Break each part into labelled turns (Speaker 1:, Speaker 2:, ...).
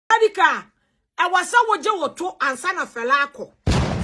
Speaker 1: Adika, ɛwɔ sɛ wogye wo to ansa na fɛla akɔ.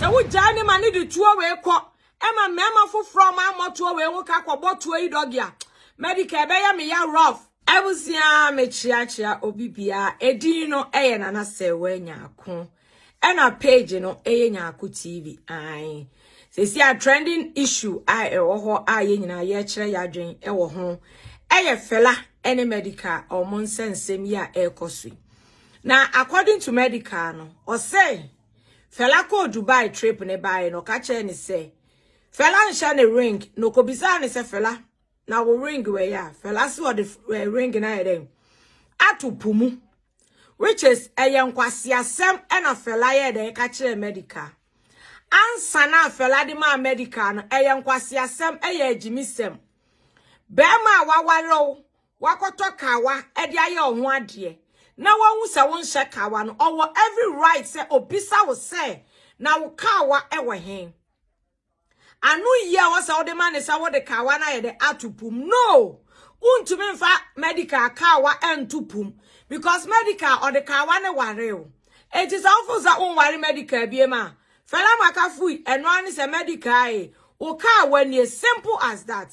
Speaker 1: Sɛ wogyae ne ma ne de tuo wei kɔ ɛma mmarima foforɔ ɔmo ammɔ tuo wei ho ka kɔbɔ tuo yi dɔge a, Madika ɛbɛyɛ me ya rough. Abusua mekyeakyea obi bia edin no ɛyɛ nana sɛ wɛ nyaako ɛna page no ɛyɛ nyaako TV ae Seesei a trending issue a ɛwɔ hɔ a yɛn nyinaa yɛkyerɛ yɛadwen wɔ ho ɛyɛ Fela ne Medika a wɔn nsɛnsɛm yi a ɛrekɔ so yi. Na according to Medika no, ɔsɛ Fela kɔɔ Dubai trip ne baeɛ no ɔka kyerɛ ne sɛ Fela nhyɛ ne ring na ɔkɔbisaa ne sɛ Fela na wo ring wɛyɛ a fɛla se ɔde eh, ring na ayɛ dɛn ato po mu which is ɛyɛ nkwaseasɛm ɛna fɛla yɛ dɛn ka kyerɛ medical ansa na fɛla de maa medical no ɛyɛ nkwaseasɛm ɛyɛ agyimisɛm bɛrima a wawarew wakɔtɔ kawa ɛde ayɛ ɔho adeɛ na wahu sɛ wonhyɛ kawa no ɔwɔ every right sɛ obisa wo sɛ na wo kawa ɛwɔ hen Anoyi a wɔsɛ wode ma ne sɛ wode kawa no ayɛ dɛ ato pum. No! Wontumi mfa medical kawa nto pum because medical ɔde kawa ne ware o. Enti sɛ wofo sɛ wonware medical biem a, Fela Maka fui, ɛno ara ne sɛ medical e, wo kawa nie, simple as that.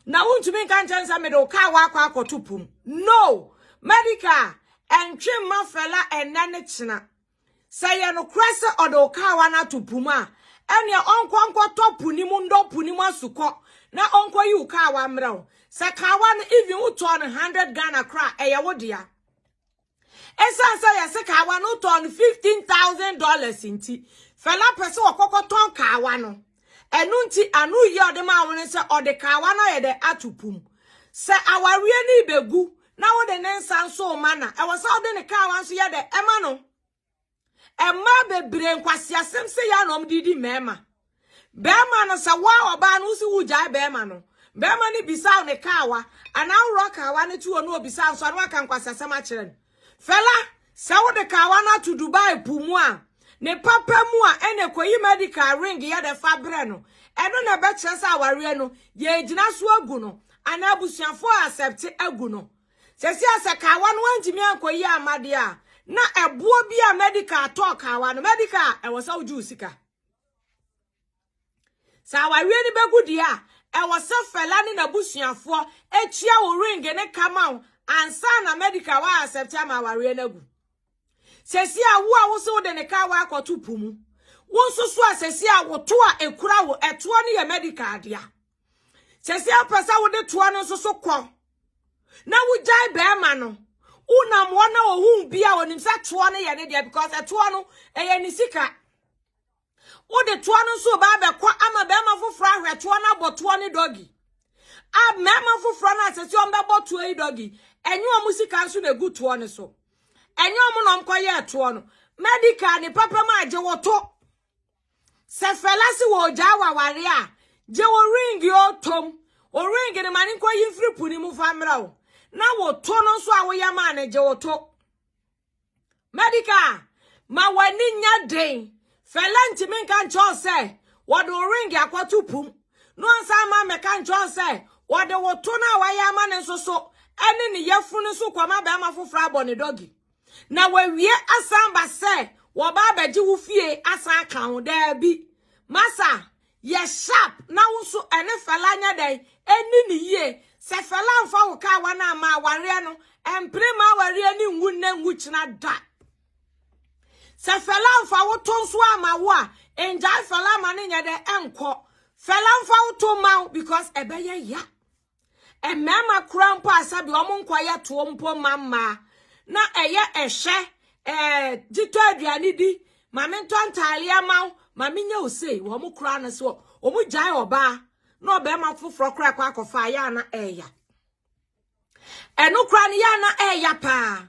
Speaker 1: Na wontumi nka nkyɛn sɛ mede wo kawa akɔ akɔto pum. No! Medical ɛntwe mma Fela ɛnnɛ ne kyena. Sɛ ɛyɛ nokorɛ sɛ ɔde wo kaawa no ato po mu a, ɛnneɛ ɔnkɔ nkɔtɔ po no mu nnɔ po no mu asukɔ na ɔnkɔyi wo kaawa mmrɛ wo. Sɛ kaawa no even wotɔɔ no hundred Ghana koraa a, ɛyɛ wo dea. Ɛsiane sɛ yɛse kaawa no wotɔɔ no fifteen thousand dollars nti, Fela pɛ sɛ ɔkɔ kɔtɔn kaawa no. Ɛno nti, ano yi a ɔde maa wo no sɛ ɔde kawa no ayɛ dɛ ato pum. Sɛ awareɛ no rebɛgu na wode ne nsa nso rema no a, ɛwɔ sɛ wode ne kawa nso yɛ dɛ ɛma no. Mmaa bebree nkwaseasɛm sei a na wɔde di mmarima. Barima no sɛ wo a ɔbaa no wosi wogyae barima no, barima no bisa wo ne kawa anaa worɔ kawa no to hɔ na ɔbisa nso a na waka nkwaseasɛm akyerɛ no. Fela, sɛ wode kawa no ato Dubai po mu a, ne papa mu a ɛne kɔyi medical ring yɛ dɛ fa brɛ no, ɛno na ɛbɛkyerɛ sɛ awareɛ no yɛregyina so agu no anaa abusuafoɔ accept agu no. Sɛsi a sɛ kawa no wantumi ankɔyi amma deɛ a, na ɛboɔ bi a medical tɔɔ kawa no, medical a ɛwɔ sɛ wogye wo sika. Sɛ awareɛ no bɛgu deɛ a, ɛwɔ sɛ Fela ne n'abusuafoɔ kyia wo ring ne ka ma wo ansa na medical wa accept ama awareɛ no agu. Sɛsi a wo a wo se wode ne ka wakɔto po mu. Wo nso so a sɛsi a wo to a ɛkura wo ɛtoɔ no yɛ medical dea. Sɛsi a pɛ sɛ wode toɔ no nso so kɔ na wogyae bɛrima no wonam hɔ na ohu bi a onim sɛ toɔ no yɛ ne deɛ because ɛtoɔ no ɛyɛ ne sika. Wode toɔ no nso ɔbaa bɛkɔ ama bɛrima foforɔ ahwɛ toɔ no abɔ toɔ ne dɔgi. A mmarima foforɔ no asɛ sɛ ɔmbɛbɔ toɔ yi dɔgi. Ɛnyɛ ɔmo sika nso na egu toɔ no so. Ɛnyɛ ɔmo na ɔmkɔyɛɛ toɔ no. Medical ne papa mu a gye wo to. Sɛ fɛla se wɔ ogyaa waware a, gye wo ring yi otom. O ring no ma ne nkɔyi mfiri po no mu fa mmerɛ wo. Na wo to no nso a woyɛ maa no gye wo to. Medica, ma w'ani nyɛ den. Fɛlɛ ntumi nka nkyerɛ wo sɛ wɔde wo ringi akɔto pum na ɔnsan mma mmɛka nkyerɛ wo sɛ wɔde wo to no a wayɛ ama no nso so ne ne yafunu no so kɔma barima foforɔ abɔ ne dɔgi. Na wawie asan ba sɛ wɔba abɛgye wo fie asan aka ho. Daabi. Masa, Yɛ sharp na wo nso ɛne Fela nyɛ dɛn ɛnni no yie. Sɛ Fela amfa wo kaa wan amma awareɛ no ɛmpene mma awareɛ no nwu nnɛ nwu kyena da. Sɛ Fela amfa wo to nso amma wo a ngyae Fela ma no nyɛ dɛn ɛnkɔ. Fela mfa wo to mma wo because ɛbɛyɛ ya. Mmarima koraa mpo a sɛbi wɔn nkɔyɛ toɔ mpo mma mmaa na ɛyɛ ɛhwɛ ɛɛ gyitɔ aduane di maame ntɔ ntaaleɛ ama wo maame nyɛ wo sei wɔn koraa no so wɔn gyae ɔbaa na ɔbarima foforɔ koraa kɔ akɔfa ayɛ ana ɛɛya ɛno koraa no yɛ ana ɛɛya paa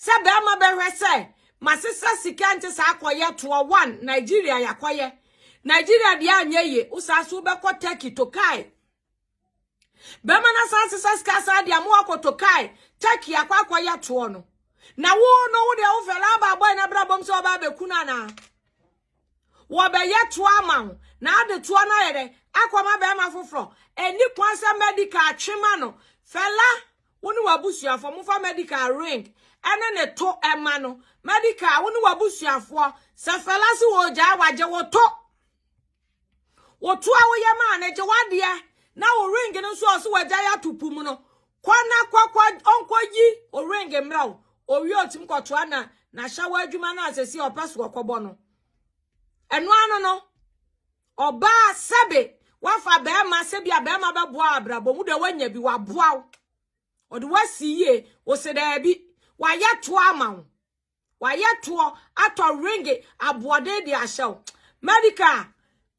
Speaker 1: sɛ barima bɛhwɛ sɛ masesa sika nti saa akɔyɛ toɔ one nigeria yakɔyɛ nigeria deɛ anyɛ yie wosaa so wobɛkɔ turkey tokae bɛma no asan sesa sika saa de ama wakɔtɔ kae turkey akɔ akɔyɛ toɔ no na wo no wo deɛ wofɛ laba bɔe no abrabɔm sɛ ɔba abɛku no anaa wɔbɛyɛ toɔ ama wo na ade toɔ no ayɛ dɛ akɔma bɛrima foforɔ ɛni kwan sɛ medical atwema no fɛla wo ne w'abusuafoɔ mofa medical ring ɛne ne to ɛma no medical wo ne w'abusuafoɔ sɛ fɛla se wɔgyaa wagye wo to Wotu a woyɛ maa no gye w'adeɛ na wo ring no nso ɔso wagyae ato po mu no, kɔ na kɔkɔ ɔnkɔyi o ring mmra wo. Owie ɔtumi kɔtoa na n'ahyɛwɔ adwuma no a sɛsi ɔpɛ so ɔkɔbɔ no. Ɛno ano no, ɔbaa sɛbe wafa bɛrima sɛ bi a bɛrima bɛboa abrabɔ mu deɛ wanya bi waboa wo. Ɔde wasi yie, wo se daabi, wayɛ toa ama wo. wayɛ toɔ atɔ ringe aboɔden de ahyɛ wo medical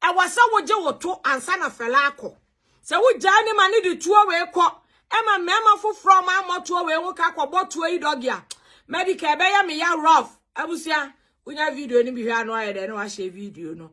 Speaker 1: a ɛwɔ sɛ wogye wo to ansa na fɛla akɔ sɛ wogyae ne ma ne de tuo wei kɔ ɛma mmarima foforɔ ma ammɔ toɔ wei ho ka kɔbɔ toɔ yi dɔge a medical ɛbɛyɛ me ya rough abusua wonya video no bi hwɛ ano ayɛ dɛ na wahyɛ video no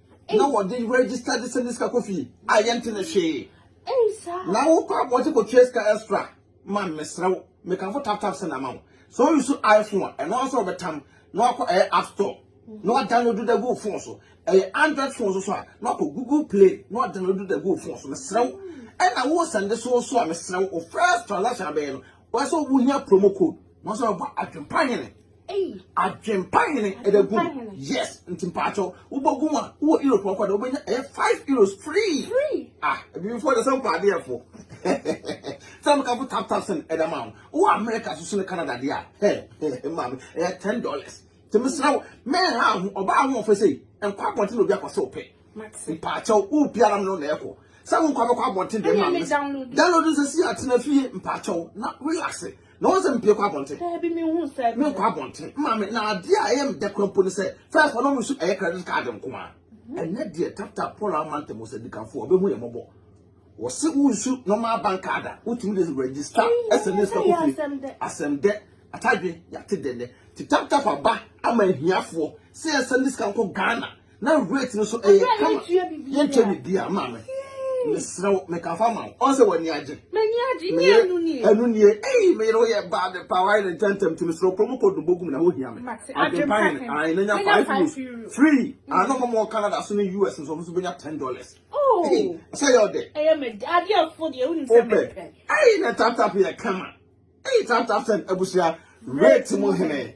Speaker 2: na wɔde register de sɛnde sika kɔ fie a yɛnte ne hwee na wokɔ abɔgye kɔtua sika extra ma mesrɛ wo mekamfo tap tap sɛ na ama wo so you so iphone a ɛno asɛ wɔbɛtam na wakɔ ɛyɛ app store na wadownload da gu phone so ɛyɛ android phone so so a na wakɔ google play na wadownload da gu phone so mesrɛ wo ɛna wo sɛnde so so a mesrɛ wo first transaction abɛyɛ no wɔsɛ wohia promo code na wɔsɛ wɔbɔ adwempa hene Adwempa hene ɛda gu yes nti mpaatɔ wobɔ gu a wowɔ europe ɔkɔ de wobɛnya ɛyɛ five euros free ah ebibifo de sɛ mpɛ adeɛ fo sɛ mo kafo tap tap sɛn ɛda ma wo wowɔ america soso ne canada deɛ a hɛ hɛ maame ɛyɛ ten dollars nti mesrɛ wo mɛn ha ho ɔbaa ho ɔfɛ sɛ nkɔ abɔnten na obi akɔ sɛ ɔpɛ mpaatɔ wo biara no na ɛkɔ sɛ wo nkɔ abɛkɔ abɔnten deɛ maame download nsɛ si atena fie mpaatɔ na relax na wɔn sɛ mpie kɔ abɔnten. Daabi mi hu sɛ.
Speaker 3: Mi nkɔ abɔnten maame
Speaker 2: na adeɛ a ɛyɛ mi dɛ kura mpo ne sɛ fɛs wɔn mu nso ɛyɛ credit card nko a. Mhm. Ɛnɛ deɛ tata Paul Amante mo sɛ dikanfo ɔbɛ hu yɛ mɔbɔ. Wɔsi wo nsu normal bank card a wotumi de register ɛsɛ ne sika kofie asɛm dɛ atadwe yate dɛ nɛ ti tap tap aba ama ahiafoɔ sɛ ɛsɛ ne sika nkɔ Ghana na rate no so ɛyɛ eh, kama yɛntwa biribiara ma me mesrɛ wo meka fa ma wo ɔn sɛ w'ani agye
Speaker 3: ɛno nie
Speaker 2: ei meyere wo yɛ baa de pa wae ne ntɛntɛm nti mesrɛ kuro mu kɔdu bɔgu mu na wohia me adwempa ne ae na nya five euros free ano ma mɔ canada so ne us nso ɔmo so bɛnya ten dollars oh. sɛ yɛ ɔdɛ
Speaker 3: wopɛ ei
Speaker 2: na taptap yɛ kama ei
Speaker 3: taptap
Speaker 2: sɛn abusua rate mu hene